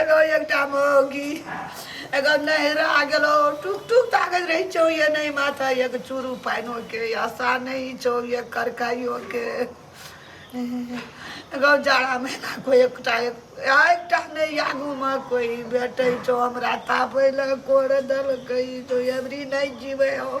एगो एकटा मौगी एगो नहरा गेलो टुक टुक ताकत रही छौ ये नहीं माथा एक चूरू पानो के आशा नहीं छौ ये करकाइयो के एगो जाड़ा महीना कोई एकटा एकटा नहीं आगू में कोई बैठे छौ हमरा तापे लग कोड़ दल कही तो एवरी नहीं जीवे हो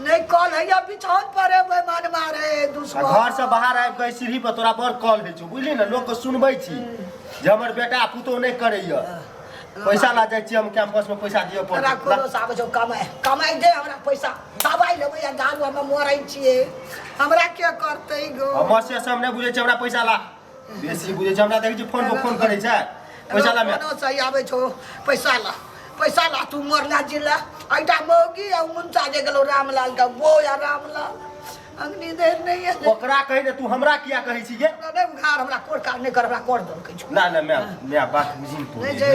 नहि कॉल हैया बिछौन पर एबै मन मारे आ दुश्मन घर से बाहर आबि कऽ एहि सीढ़ी पर तोरा बड़ कॉल होइ छौ बुझली ने लोकके सुनबै छी जे हमर बेटा पुतहु नहि करैया पैसा ला जाइ छी हम कैंपस में पैसा दिअ हमरा कोनो पड़त साबे छौ कमाए कमाए दे हमरा पैसा दबाइ लेबै आ दारू हमे मरै छियै हमरा के करतै गो हमर से सब नहि बुझै छै हमरा पैसा ला बेसी बुझै छै हमरा देखै छी फोन पर फोन करै छै पैसा ला मे कोनो सही आबै छौ पैसा ला पैसा ला तू मरला जिला ऐटा मौगी आ मुंचा जे गेलो रामलाल का वो या रामलाल अग्नि देर नहीं है ओकरा कहै ने तू हमरा किया कहै छी गे हमरा नहीं उघार हमरा कोर का नहीं कर हमरा कोर दल कह छौ ना ना मैं मैं बात बुझी तू नहीं जे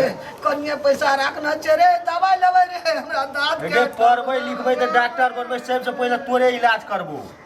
कनिया पैसा राखना छै रे दवाई लेबै रे हमरा दांत गे के पढ़बै लिखबै तऽ डॉक्टर बनबै सबसँ पहिले तोरे इलाज करबो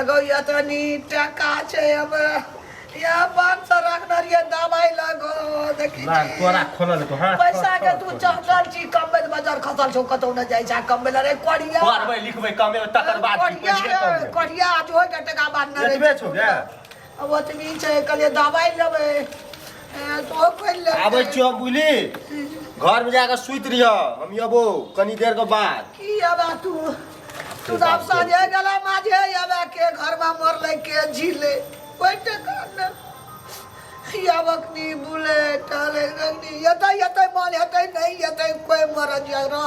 एगो या तो नी टका छे अब या पाँच सौ रखना रहिए दवाई लगो देखी ना तोरा खोलल को हां पैसा के तू चहटल छी कम में बाजार खसल छो कतौ न जाय छा कम में रे कोड़िया पढ़बै लिखबै कमे तकर बाद की कोड़िया कोड़िया आज होय के टका बाद न एतबे छौ गे अब ओतबी छै कहलियै दवाइ लेबै ए, तो ओ खोलि लेबै आबै छियो बुझली घर में जाकर सुत रहियो हम अबो कनी देर के बाद की अब आ तू तू तऽ आब साँझे गेला माझे अब आ के घरमा मरलै के झीले कोइ टेका ने अब अखनी बुलै टहलै अखनी एतै एतै मन हेतै नहि एतै कोइ मरद रह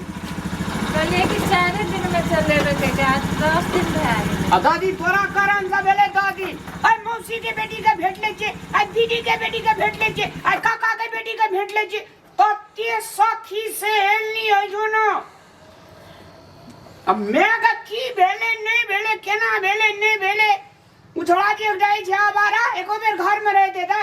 कहलियै कि चारे दिन में चलेबे के के आज दस दिन भए गेलै आ दादी तोरा कारण से भेले दादी आइ मौसी के बेटी के भेट ले छे आइ दीदी के बेटी के भेट ले छे आइ काका के बेटी के भेट ले छे कते सखी से हेलनी है जो ना अब मैं का की भेले नहीं भेले केना भेले नहीं भेले उछड़ा के जाई छे आबारा एको बेर घर में रह देता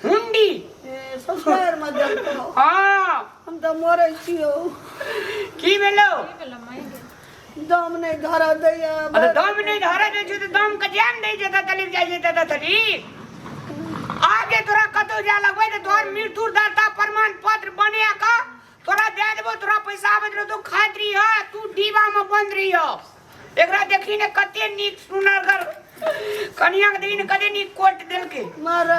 हुंडी ससुरार में देलको हाँ हम तो मरे छियो की भेलो दम नहीं धर दैया अरे दम नहीं धरे दे छै तऽ दम के जान दै छै तऽ तलिक जाइ छै तऽ तऽ थरी आगे तोरा कतौ जा लगबै तऽ तोहर मृत्यु दाता प्रमाण पत्र बने का तोरा दे देबो तोरा पैसा आबैत रहो तू खाइत रही हो तू डीबा में बंद रही हो एकरा देखी ने कते नीक सुनर कर कनिया के देखी ने कते नीक कोट देलके मर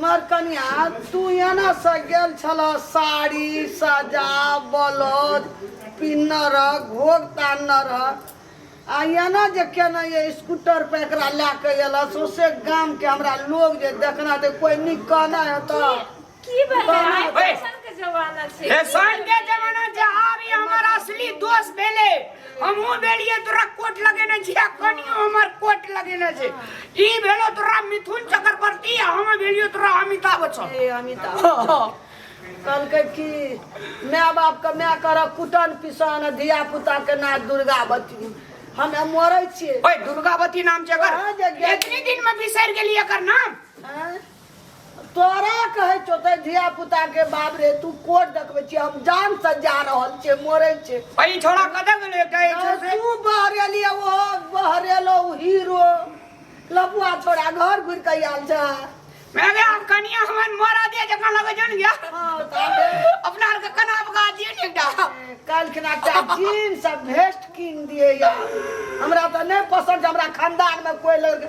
मर कनिया तू एना से गेल छल साड़ी सजा ब्लाउज पिन्न रह घोग तान्न रह आ एना जे केना ये स्कूटर पे एकरा लए के एलस ओसे गाम के हमरा लोग जे देखना दे कोई निक कहना है तो की भेलै आइ ओए। फैशन के जमाना छै फैशन के जमाना जे आबी हमर असली दोस्त भेले हमहू भेलिए तोरा कोट लगेने छी आ कनियो हमर कोट लगेने छै ई भेलो तोरा मिथुन चक्रवर्ती आ हम भेलियो तोरा अमिताभ बच्चन ए अमिताभ कहलकै कि माय बाप के माय कर कुटन पिसन धिया पुता के ना दुर्गावती हम मरै छियै ओए दुर्गावती नाम छै एकर कहाँ जे गेल? इतनी दिन में बिसर गेली एकर नाम हैं? तोरा कहै छौ तऽ धिया पुता के बाप रे तू कोट देखबै छी हम जान से जा रहल छियै मरै छै अरे ई छोड़ा कतऽ गेलै एकटा ई छोड़ से तू बहरेली ओ बहरेलो उ हीरो लपुआ छोड़ा घर घुर के आयल छै मैंने हम कनिया हमन मोरा दिए जकरा लगे जन गया हाँ, ताबे। अपना आर के कना बगा दिए ने एकटा काल्हि खिना एकटा जीन्स आ भेस्ट कीन दिए हमरा तऽ नहि पसन्द हमरा खानदान मे कोई लड़का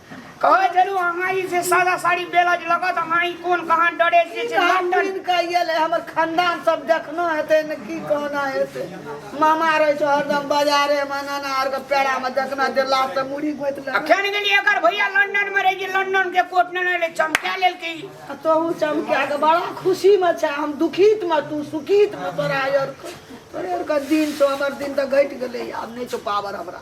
कहै छलू अहाँ ई से सादा साड़ी बेलज लगत अहाँ ई कोन कहाँ डरे जे छै लंदन लंदन कहिए ले हमर खानदान सब देखना हेतै ने की कहना हेतै मामा रहै छै हरदम बाजारे मे नाना आर के पेड़ा मे देखना जे लास्ट से मुड़ी गोइत ले अखन गेली एकर भैया लंदन में रही जे लंदन के कोट ने ले चमका लेलकै आ तोहू चमका के बड़ा खुशी में छै हम दुखित में तू सुखित में तोरा आर के तोरे आर के दिन छौ हमर दिन तऽ घटि गेलै आब नहि छौ पावर हमरा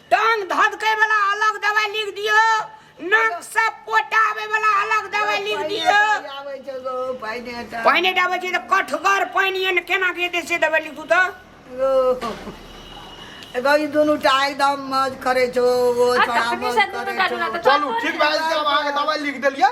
टांग धधकै वाला अलग दवाई लिख दियो नाक से पोटा आवे वाला अलग दवाई लिख दियो आबै छै गो पाइने टा पानी डाबै छै तऽ कठगर पानी एन केना के देतै से दवाई लिखू तऽ गो गो ई दुनू टा एकदम मज करै छौ ओ आ छोड़ा तखने मज से दुनू करै टा छौ दुनू टा चलू ठीक भए जेतै आब अहाँके दवाइ लिख देलियै